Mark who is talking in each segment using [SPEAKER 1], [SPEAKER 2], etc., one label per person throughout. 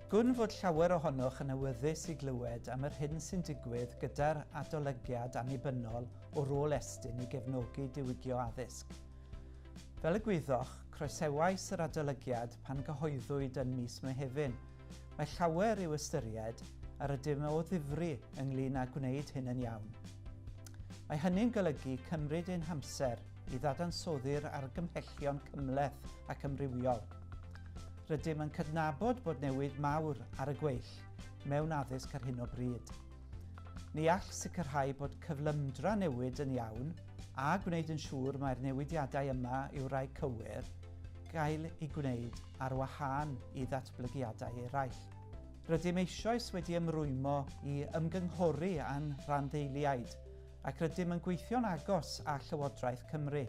[SPEAKER 1] Gwn fod llawer ohonoch yn awyddus i glywed am yr hyn sy'n digwydd gyda'r adolygiad annibynnol o rôl Estyn i gefnogi diwygio addysg. Fel y gwyddoch, croesewais yr adolygiad pan gyhoeddwyd yn mis Mehefin, Mae llawer i'w ystyried a rydym o ddifri ynglŷn â gwneud hyn yn iawn. Mae hynny'n golygu cymryd ein hamser i ddadansoddi'r argymhellion cymhleth ac amrywiol. Rydym yn cydnabod bod newid mawr ar y gweill mewn addysg ar hyn o bryd. Ni all sicrhau bod cyflymdra newid yn iawn a gwneud yn siŵr mai'r newidiadau yma yw rai cywir, gael eu gwneud ar wahân i ddatblygiadau eraill. Rydym eisoes wedi ymrwymo i ymgynghori â'n rhanddeiliaid ac rydym yn gweithio'n agos â Llywodraeth Cymru.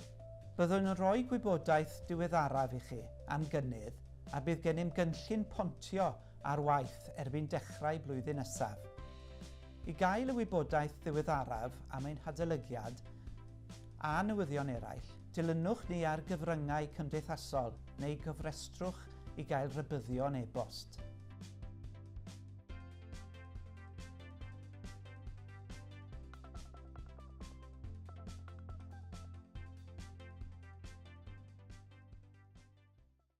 [SPEAKER 1] Byddwn yn rhoi gwybodaeth diweddaraf i chi am gynnydd a bydd gennym gynllun pontio ar waith erbyn dechrau blwyddyn nesaf. I gael y wybodaeth ddiweddaraf am ein hadolygiad a newyddion eraill, dilynwch ni ar gyfryngau cymdeithasol neu gofrestrwch i gael rhybuddion e-bost.